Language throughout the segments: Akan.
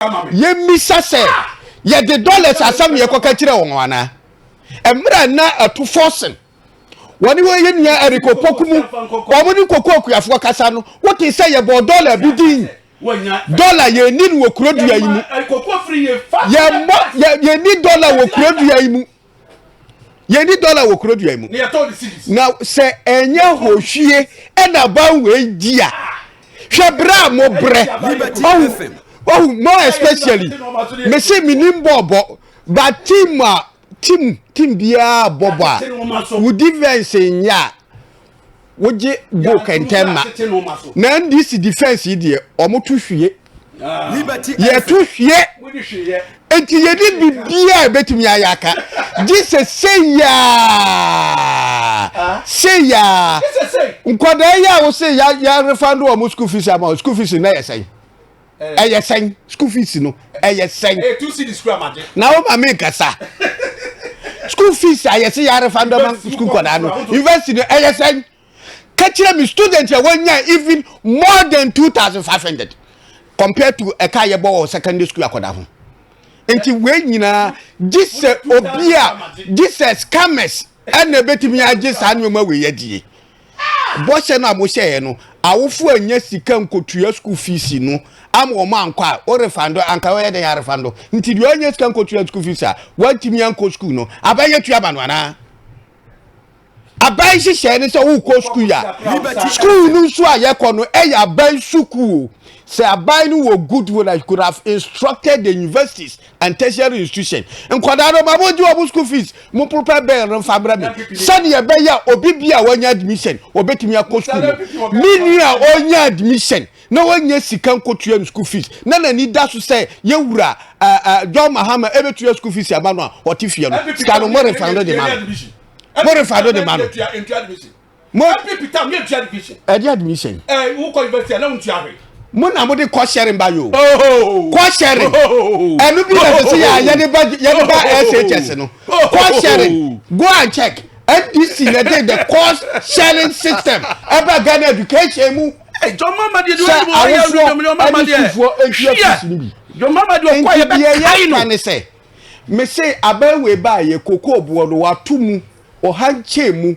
yɛmmisa sɛ yɛde dollars asɛm ne yɛkɔka kyerɛ wɔn anaa mmerɛ na ɛto fɔsen wɔne wɔ yɛ nua eriko poku mu wɔn ne koko akuafoɔ kasa no wote sɛ yɛbɔ dollar bi din dollar yɛnni no wɔ kurodua yi mu yɛmmɔ yɛnni dollar wɔ kurodua yi mu yɛni dɔla wɔ kuro dua mu na sɛ ɛnyɛ hohwie ɛna banwei di a hwɛ berɛ a mobrɛ ɔhu mo especially mese menim bɔɔbɔ ba tim a tim tim biara bɔbɔ a wo defense nyɛ a wogye goal kɛntɛn ma na ndc defence yi deɛ wɔn to hwie ah. yɛ to hwie nti yɛ de biribiara a ebetumi ayɛ aka gye sɛ seyaa ah. seyaa nkɔdaa yi a wosɛ yɛ yɛ refa do wɔn school fees ama wɔn school fees na yɛ sɛn. ɛyɛ sɛn school fees no ɛyɛ sɛn na wo ma me nkasa school fees a yɛsɛ yɛarefa ndɔma school kɔdaa no university no ɛyɛ sɛn ka kyerɛ me student a wɔnya even more than 2500 compared to ɛka yɛbɔ wɔ secondary school akɔda ho nti wei nyinaa gye sɛ obi a gye sɛ scammers ɛna ɛbɛtumi agye saa nneɛma wei adie bɔhyɛ no a mohyɛeɛ no, awofo annya sika nkɔtua sukuu fiisi no ama wɔn ankɔ a, wo refando, anka wɔyɛ dɛn arefando? Nti deɛ ɔnyɛ sika nkɔtua sukuu fiisi a, wantumi ankɔ sukuu no, aban yɛ tua ma no anaa? aban hyehyɛɛ ne sɛ wokɔ sukuu a sukuu no nso a yɛkɔ no ɛyɛ aban sukuu sɛ aban no wɔ good will I could have instructed the universities and tertiary institution nkwadaa no ma mo gye wɔn school fees mo prepare bɛn no nfa brɛ mi sɛdeɛ ɛbɛyɛ obi bi a wɔnya admission wɔbɛtumi akɔ school no mi nua ɔnya admission na wɔnya sika nkotua no school fees na n'ani da so sɛ yɛwura ɛɛ ɛɛ john mahama ɛbɛtua school fees ama no a ɔte fie no sika no mo refa no de ma no mo refa no de ma no. mo a. Ɛpɛ pita mi etua division. Ɛdi admission. Ɛ wo kɔ university a na wo ntua hwee. Mo na mo de kɔ sharing ba yo. Kɔ sharing. Ɛnu bi na sisi yɛ a yɛ de ba yɛ de ba SHS no. Kɔ sharing. Go and check. NDC na de the course sharing system ɛba Ghana education mu. John Mahama deɛ deɛ ɔyɛ mu ɔyɛ ɔyɛ ɔyɛ ɔyɛ Mahama deɛ. Sɛ awofoɔ ɛntua fisi ni bi. John Mahama deɛ ɔkɔ yɛ bɛ kae no. Nti deɛ yɛ ka ne sɛ mese abɛɛwe ba yɛ koko boɔ no wato mu ɔhankyɛn mu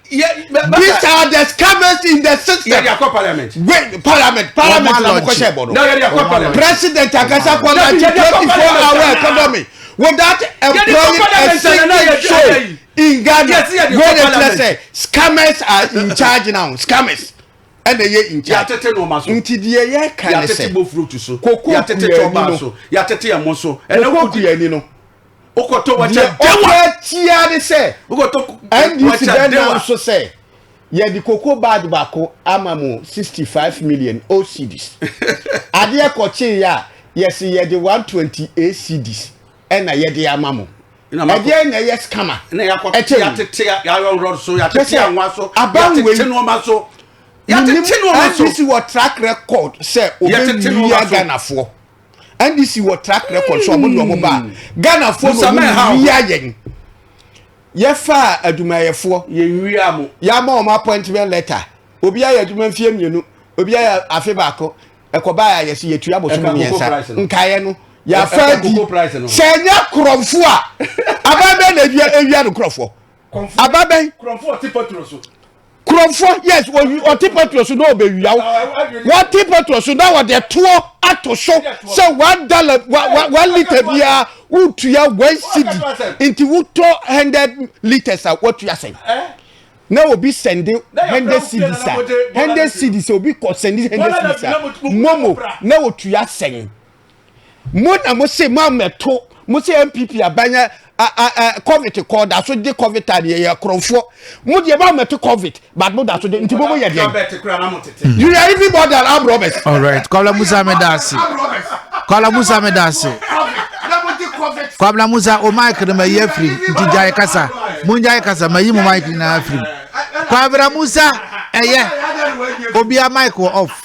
these are the scammers in the system. yɛde akɔ parliament. wait parliament parliament na mo kɔhyɛ bɔ no. na yɛde akɔ parliament. president akasa kɔ na ti twenty four hour economy without employing a single soul in ghana wey dey tell say scammers are in charge now scammers ɛna ɛyɛ in charge yàtete nneɛma so nti deɛ yɛ kan ne sɛ yàtete bofuro tu so yàtete tɔba so yàtete ɛmo so ɛna kuku yɛ ni no. wokɔtɔ wɔkyɛ dewa deɛ ɔpɛ tia ne sɛ wokɔtɔ ndc bɛ nam so sɛ yɛde koko bag baako ama mo sixty five million ocds adeɛ kɔkye yɛ a yɛsi yɛde one twenty eight cds ɛna yɛde ama mo ɛdeɛ na ɛyɛ scammer ɛkyɛ yatete yayɔnrɔ so yatete anwa so yatete nneɛma so yatete nneɛma so ndc wɔ track record sɛ obe wia ghanafoɔ. ndc wɔ track record so ɔmo de ɔmo ba hmm. ghana fo na ɔmo wia yɛn yɛfa adwumayɛfoɔ yɛwia mo yɛama ɔmo appointment letter obi ayɛ adwuma mfie mmienu obi ayɛ afe baako ɛkɔba yɛ ayɛ si yɛtua bosome mmiɛnsa nkaeɛ no yɛafa di sɛ ɛnyɛ korɔmfo a aban bɛɛ na ewia ewia no korɔfoɔ aba bɛn. kurɔfo ɔte patro so. kurɔfo yes ɔte patro so na ɔbɛwia wɔte patro so na wɔde toɔ ato so sɛ one dollar one litre biara wotua one cedi nti wotɔ hundred litres a woatua sɛn na obi sɛnde hundred cedis a hundred cedis obi kɔ sɛnde hundred cedis a momo na otua sɛn. mo na mo se mo amɛto mo se npp aban a a covid kɔ da so de covid tan yɛ yɛ korɔfoɔ mo deɛ mo amɛto covid but mo da so de nti mo mo yɛ deɛ you are even more than armed robbers. all right kwabla musa mi da ase kwabla musa mi da ase kwabla musa o mic no ma yi afiri nti gyae kasa mo gyae kasa ma yi mo mic nyinaa afiri kwabla musa ɛyɛ obi a mic wɔ off.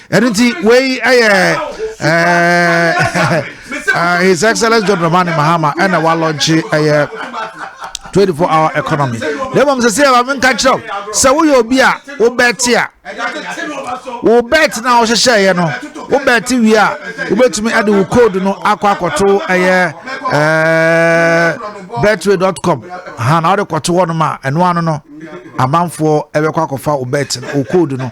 ɛno nti wei ɛyɛ his excellence john dramani mahama ɛna walɔnkye ɛyɛ 24 hour economy na mmom sɛ sɛ ɛba menka kyerɛw sɛ woyɛ obi a wobɛte a wo bet no a wohyehyɛeɛ no wo bet wie a wobɛtumi ade wo code no akɔ akɔto ɛyɛ betway com ha na wode kɔto hɔ nom a ɛno ano no amanfoɔ ɛbɛkɔ akɔfa wo bet no wo code no